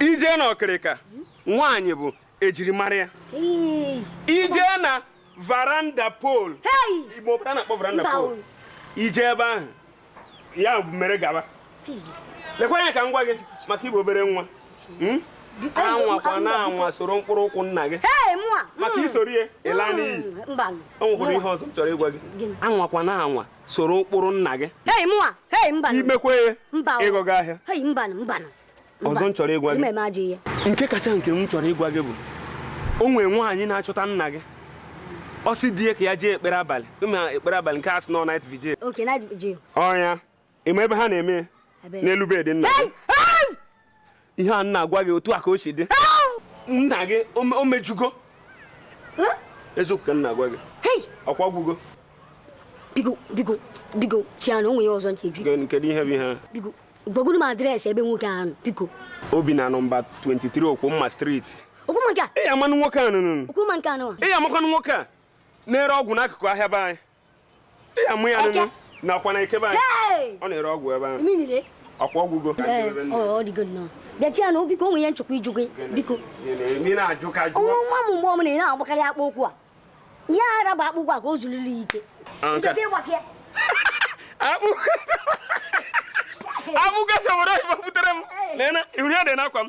ije na ọkịrịka nwaanyị bụ ejirimara ya ije na varanda pol igbo pụta na-akpọ varanda pol ije ebe ahụ ya mere gaba lekwa anya ka m gwa gị maka ịbụ obere nwa hmm? anwakwana anwa soro mkpụrụ ụkwụ nna gị maka hmm. i soro ya ị laa hmm. n'iyi o nwekwara ihe ọzọ m chọrọ ịgwa gị anwakwana anwa soro ụkpụrụ nna gị hei mụwa hei mba i mekwaa ya mba ịgọga ahịa hei mba mba ọzọ m chọrọ ịgwa gị nke kacha nke m chọrọ ịgwa gị bụ o nwere nwaanyị na-achọta nna gị ọ sị di ya ka ya jee ekpere abalị ị ma ekpere abalị nke a sị na ọ night vigil ọ ya ị ma ebe ha na-eme n'elu bed nna ihe a na-agwa gị otu a ka o si dị nna gị o mejugo eziokwu ka m na-agwa gị ọkwa ọ gwụgo biko biko biko chiana o nwee ihe ọzọ m chọ ịjụ kedu ihe bụ ihe biko gwagodu m adreesị ebe nwoke ahụ biko o bi na nọmba 23 okwumma street okwumma nke a ị ya-amanụ nwoke a nụnụ okwumma nke a nụwa ị ya-amakwanụ nwoke a na-ere ọgwụ n'akụkụ ahịa be anyị ya mụ ya nụnụ nakwa na ikebe anyị ọ na-ere ọgwụ ebe ahụ ọkwa ọ gwụgo bịa chianụ biko o nwee ihe m chọkwa ịjụ gị biko onwe nwa m mgbe ọbụna ị na-agbakarị akpụkpọ ụkwụ a ihe ara bụ akpụkpọ a ka o zuliri ya ike akpụkasị obodo oyibo butere m na ihu ya dị n'akwa m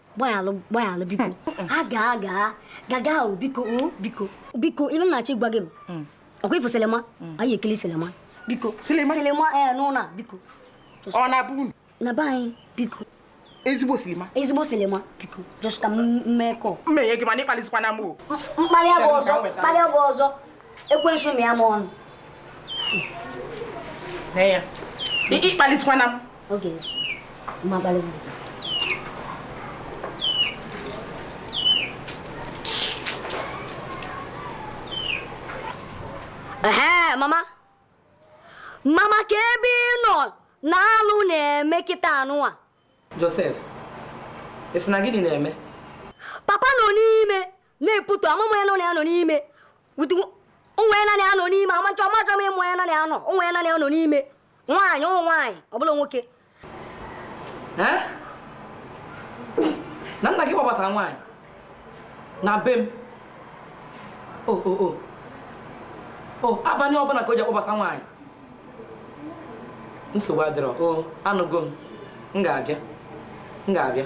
gbaghalụ gbaghalụ biko a gaa gaa gaga ahụ biko o biko biko ihe m na-achọ ịgwa gị m ọkwa ị fụ selema anyị ekele selema biko Selema? selema ee n'ụlọ a biko ọ na-abụ unu na be anyị biko ezigbo selema ezigbo selema biko just ka m mee call m enye gị mana ịkpalizikwana m o m kpalịa gị ọzọ m kpalịa gị ọzọ ekwensu mịa m ọnụ nee ya ịkpalitụkwana m okay ma kpalitụ ee mama mama kee ebe ị nọ na alụ na-eme kịtaa nụa Joseph ị sị na gịnị na-eme papa nọ n'ime na-eputu amụmụ ya nọ na ya nọ n'ime onye ya na ya nọ n'ime amachọ amachọ m onye ya na ya nọ onye ya na ya nọ n'ime nwaanyị ụmụ nwaanyị ọ bụla nwoke na nna gị kpọbatara nwaanyị na be m o o o o abalị ọbụla ka o ji akpọbata nwaanyị nsogbu adịrọ o anụgo m m ga-abịa m ga-abịa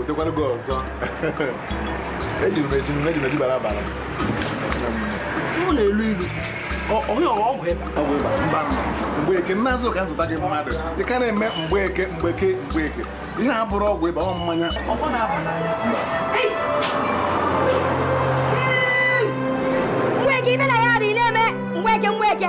otekwara gị ọzọ ejiri m eji m eji m eji bara abara ọ na-elu ilu ọ bụghị ọgwụ ịba ọgwụ ịba mba mgbeke m na-azụ ka m zụta gị mmadụ ị ka na-eme mgbeke mgbeke mgbeke ihe a bụrụ ọgwụ ịba ọ mmanya ọgwụ na-aba n'anya mgbeke ibe na ya adịghị na-eme mgbeke mgbeke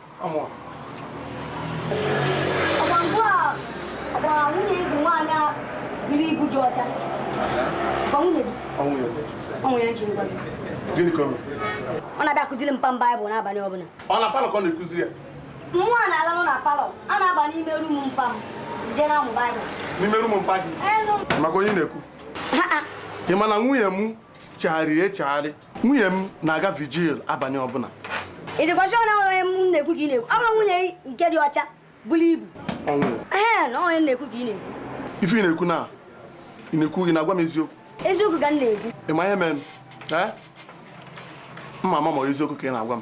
ọ na-abịa akụziri mpa m Baịbụl n'abalị ọbụla ọ na palọ ka ọ na-akụzi ya mmụọ a na-alanụ na palọ a na-aba n'ime rum mpa m jee na-amụ Baịbụl n'ime rum mpa gị maka onye na-ekwu ị ma na nwunye m chegharịrị echegharị nwunye m na-aga vigil abalị ọbụla ị dịkwa sure na onye m na-ekwu ka ị na-ekwu ọ bụrọ nwunye nke dị ọcha buru ibu ee na onye m na-ekwu ka ị na-ekwu ife ị na-ekwu na ị na-ekwu gị na-agwa m eziokwu eziokwu ka m na-ekwu ị ma ihe mere m ma ama ma eziokwu ka ị na-agwa m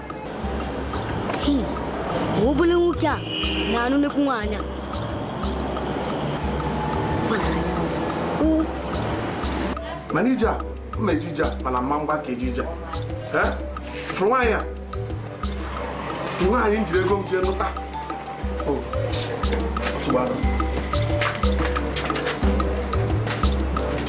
obele nwoke a na-anụ nnekwu nwaanyị mana ije a mma e ji eje a mana mma mgba ka e ji eje a fụrụ nwaanyị a nwaanyị m jiri ego m jee nụta oh.